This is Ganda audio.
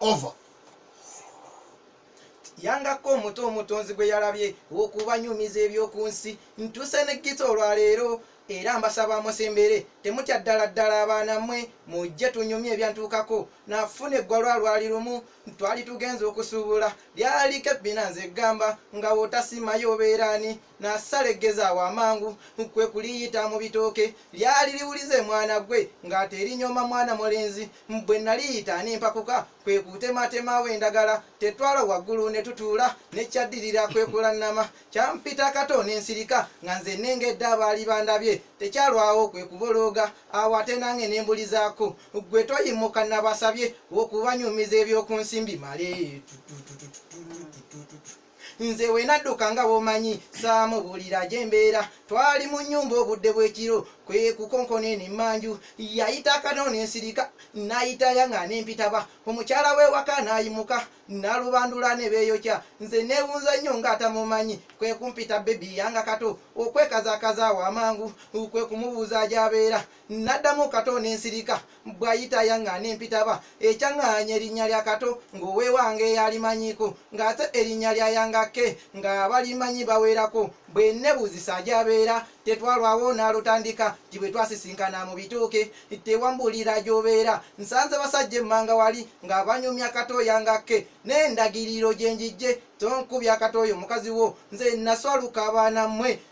over yangako omuto omutonzi gwe yalabye okubanyumiza eby'oku nsi ntuuse ne gita olwaleero era mbasaba musembere temutya ddala ddala abaana mmwe mujje tunyumye ebyantuukako nafuna eggwalwa lwali lumu twali tugenza okusuubula lyaliko ebbina nze gamba nga wotasimayo obeeraani n'asala eggezi awo amangu kwe kuliyita mu bitooke lyali liwulize mwana gwe ng'ate erinyooma mwana mulenzi bwe naliyita nempakuka kwe kutematemawo endagala tetwala waggulu ne tutuula ne kyaddirira kwe kulannama kyampita kato n'ensirika nga nze nengedde abaali bandabye tekyalwawo kwe kubolooga awo ate nange ne mbulizaako gwe toyimuka nabasabye okubanyumiza ebyoku nsimbi male tutututututututututu nze wenadduka nga bwomanyi saamubulira gyembeera twali mu nyumba obudde bwekiro kwekukonkona eno emmanju yayita akano nensirika nayitaya nga nempitaba omukyala wewaka nayimuka nalubandula nebeyokya nze newunza nnyo nga atamumanyi kwekumpita bebi yanga kato okwekazakaza awo amangu kwekumubuuza gyabeera naddamu kato nensirika bwayita yanga nempitaba ekyaŋŋaanya erinnya lya kato ng'owewange yalimanyiko ng'ate erinnya lya yangake nga balimanyi baweerako bwe nebuuzisa gyabeera tetwalwawo nalutandika nti bwe twasisinkana mu bituuke tewambuulira gy'obeera nsanze basajja emmanga wali nga banyumya kato yangake n'endagiriro gye njijje tonkubya kato oyo mukazi wo nze naswaluka abaana mmwe